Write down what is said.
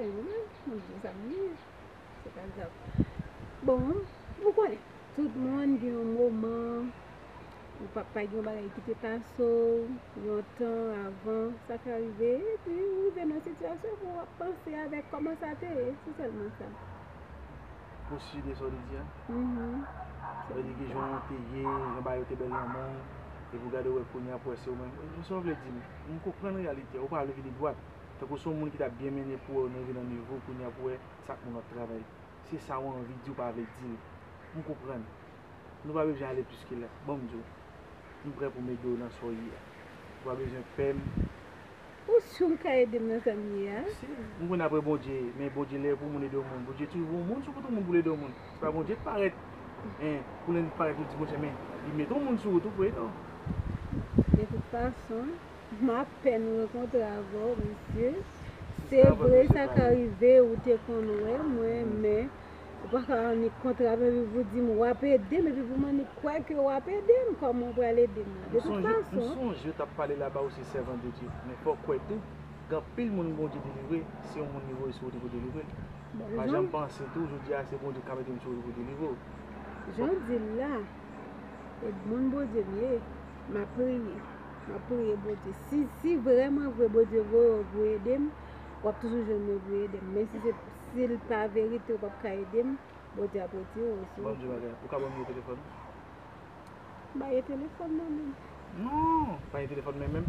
Ay ou menm, moun gen zam li ye. Se pa zam. Bon, ou konnen, tout moun gen yon moman, ou pa pa gen yon bagay ki te pase ou, yon tan avan, sa ka rive, epi ou rive nan sitiyasyon pou ou ap panse avèk kòman sa te ye, se sèlman sa. Pou si de sa ou te di a? Sa vle di ki jan ou te ye, jan bagay yo te bèl nan men, epi ou gade ou wè kounye a pou wè se ou menm. Ou se ou vle di m? M konprann reyalite a, ou pa vle vini dwat, tankou son moun ki tap byen mennen pou wè ou nan vi nan nivo kounya pou wè sak moun wap travay. Se sa ou anvi di ou pa vle dil. M konprann. Nou pa bezwen ale plis ke la. Banm di w. M prè pou m ede w nan sa w ye a. Ou pa bezwen pè m. Ou si w ka ede m nan sa m ye a? Si. M konnen aprè Bondye, men Bondye lè pou moun ede yon moun. Bondye toujou pou yon moun, sou kote yon moun pou l ede yon moun. Se pa Bondye k parèt en pou lè li parèt nou di Bondye men li met on moun sou ou tou vre non. De tout fason m apèn rankontre avè w mesye se vre sa ka rive ou te konn wè mwen men ou pa ka annik kontre avè m epi pou di m w ap ede m epi pou m annik kwè ke w ap ede m kòman w pral ede m de tout fason. M sonje yo t ap pale laba ou se sèvant de Dye men fò w kwè tou gen anpil moun Bondye delivre se yon moun li voye sou ou tou pou delivre l. Pa janm panse tou jodi a se Bondye ka mete m sou wout pou delivre w. Jan w di l la, e moun Bondye m ye, m ap priye. M ap priye Bondye. Si vrèman vre Bondye voye w pou ede m, w ap toujou jwenn moun pou ede m. Men si l pa verite ou p ap ka ede m, Bondye ap retire w sou wout la. Ou ka ban m nimewo telefòn ou? Ba yo telefòn mwen menm. Non! Ba yo telefòn mwen menm.